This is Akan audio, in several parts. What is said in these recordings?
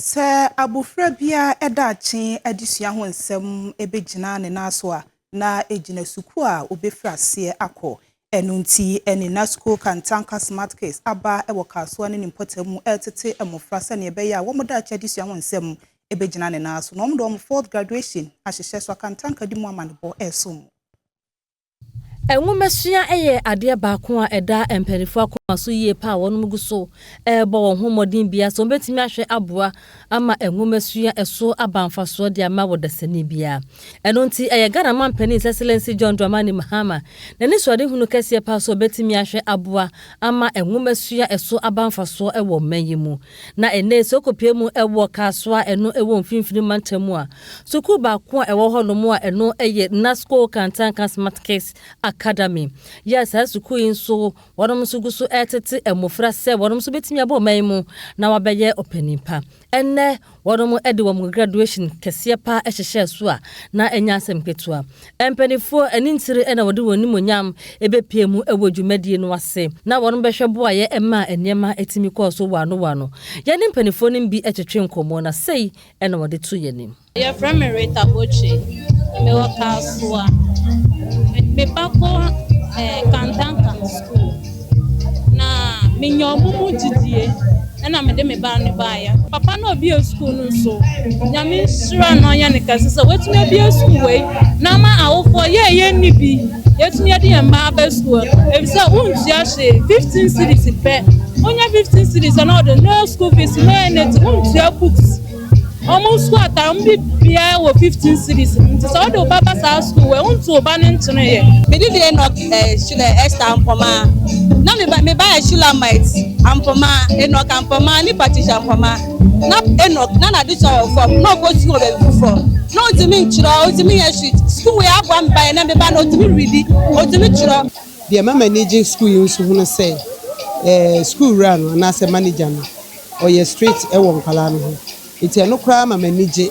Sɛ abofra biara daakye adesua ho nsɛm begyina ne nan so a, na egyina sukuu a obefi aseɛ akɔ. Ɛno nti, ɛne Nazco Kantanka Smart Kids aba wɔ Kasoa ne ne mpɔtam mu retete mmofra sɛnea ɛbɛyɛ a wɔn daakye adesua ho nsɛm begyina ne nan so na wɔde wɔn fourth graduation ahyehyɛ so. Akantanka di mu amanebɔ resom mo. Nwomasua yɛ adeɛ baako a ɛda mpaninfoɔ akoma so yie paa wɔn gu so ɛrebɔ wɔn ho mmɔden bia sɛ wɔbɛtumi ahwɛ aboa ama nwomasua ɛso aba mfasoɔ de ama wɔ dasani bia. Ɛno nti ɛyɛ Ghana Mampanin His Excellency John Dramani Mahama n'ani suade hunu kɛseɛ paa sɛ ɔbɛtumi ahwɛ aboa ama nwomasua ɛso aba mfasoɔ ɛwɔ mma yi mu. Na ɛnɛ sɛ ɔkɔpie mu ɛwɔ Kasoa ɛno ɛwɔ mfimfini mantam a, Sukuu baako a ɛwɔ hɔnom a ɛno yɛ NASCO Kantanka Smart Kids Academy yɛ a saa sukuu yi nso wɔnom nso gu so retete mmofra sɛ wɔnom nso betumi abɔ ɔman mu na wɔabɛyɛ ɔpanyin pa. Ɛnnɛ wɔnom de wɔn graduation kɛseɛ pa hyehyɛɛ so a na ɛnyɛ asɛm ketewa. Mpanimfoɔ ani ntiri na wɔde wɔn animuonyam bepie mu wɔ dwumadie no ase na wɔnom bɛhwɛ boaeɛ maa nneɛma tumi kɔɔ so wɔano wɔano. Yɛne mpanimfoɔ no bi twetwe nkɔmmɔ na sei Ɛna wɔde to yɛn anim. Wɔfrɛ me Rita Bocce. Mewɔ Kasoa. Me ba kɔ eh, Kantankan School. Na menya ɔmo mu gyidie. Ɛna mede me ba no baeɛ. Papa no a ɔbue school no nso, Nyame nhyira no ɔnyɛ no kɛse sɛ watumi abue school wei. na ama awofoɔ yɛ a yɛnni bi yɛtumi yɛde yɛn mma aba sukuu efisɛ wontua hwee fifteen cities pɛ wonya fifteen cities na ɔde no school fees no ɛnɛti wontua books wɔn sukuu atare wɔn bi biara wɔ fifteen cities nti sɛ ɔde ɔba ba saa sukuu wɔ wontu ɔba no nkyene yɛ. mede deɛ enok ɛhyilɛ eh, ɛsta ampɔma na meba meba ɛhyilɛ eh, might ampɔma enok ampɔma ne patricia ampɔma. na Enoch na n'ade sɔ wɔ fam na ɔkɔ sukuu wɔ baabi foforɔ na ɔntumi ntwerɛ ɔntumi nyɛ hwee sukuu wei aboa me ban na me ba no ɔtumi redi ɔtumi twerɛ. Deɛ ɛma m'ani gye sukuu yi nso ho ne sɛ eh, sukuu wura no anaasɛ manager no ɔyɛ straight wɔ nkwadaa no ho nti ɛno koraa ma m'ani gye.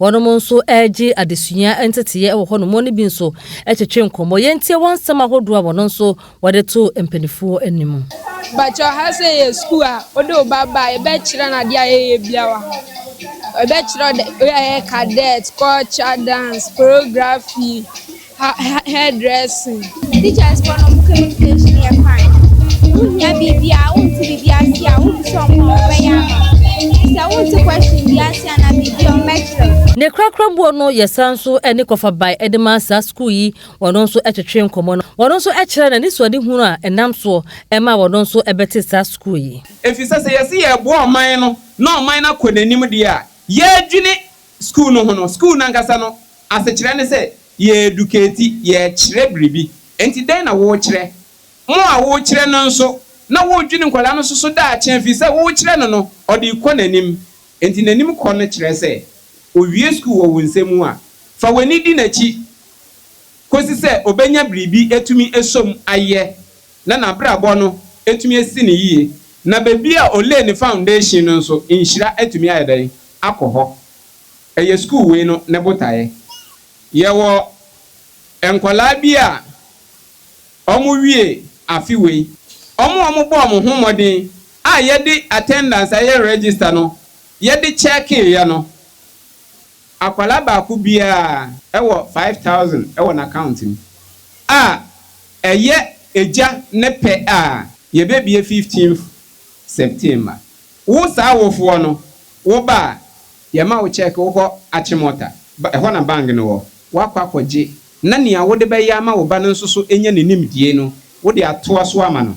Wɔnom nso regye adesua nteteeɛ wɔ hɔnom. Wɔne bi nso twetwe nkɔmmɔ. Yɛntie wɔn nsɛm ahodoɔ a wɔn nso wɔde to mpaninfoɔ anim. Mpakyɛw ha sɛ yɛ sukuu a wode wo ba ba a yɛbɛkyerɛ no adeɛ a yɛyɛ biara wɔ ha. Yɛbɛkyerɛ wo dɛ wei a yɛyɛ cadet, culture, dance, choreography. hair dressing. Teachers for no communication yɛ fine. Wohia biribi a wonte biribi ase a wobisa wɔn a wɔbɛyɛ ama. Sɛ wonte question bi ase a na biribi a wɔbɛkyerɛ. Ne korakora boɔ no yɛsan nso ne kɔfa bae de ma saa sukuu yi wɔn nso twetwe nkɔmmɔ no wɔn nso kyerɛ na anisoadehunu a ɛnam soɔ ɛma wɔn nso bɛte saa sukuu yi. Efisɛ sɛ yɛse yɛreboa ɔman no na ɔman no akɔ n'anim deɛ a, yɛredwene Sukuu no ho no, sukuu no ankasa no asekyerɛ ne sɛ yɛreduketi, yɛrekyerɛ biribi. Enti dɛn na worekyerɛ? Mo a worekyerɛ no nso, na woredwene nkwadaa no nso so daakye afi sɛ worekyerɛ no no, ɔde rekɔ n'anim. Enti n'anim kɔ no kyerɛ sɛ ɔwie sukuu wɔ wo nsa mu a, fa w'ani di n'akyi kɔsi sɛ ɔbɛnya biribi atumi asom ayɛ. na n'abrabɔ no atumi asi no yiye, na baabi a ɔlay ne foundation no nso, nhyira atumi ayɛ dɛn? Akɔ hɔ. Ɛyɛ sukuu wei no ne botaeɛ. Yɛwɔ nkwadaa bi a wɔwie afe wei, wɔn a wɔbɔɔ wɔn ho mmɔden a yɛde attendance a yɛ register no yɛde chekeeɛ no, Akwadaa baako biara wɔ five thousand wɔ n'account mu a, ɛyɛ Agya ne pɛ a, yɛbɛbue fifteenth September. Wo saa awofoɔ no, wo ba a, yɛma wo cheque, wokɔ Achimota, ɛhɔ na bank no wɔ, woakɔ akɔgye, na nea wode bɛyɛ ama wo ba no nso so anya ne nimdie no, wode atoa so ama no.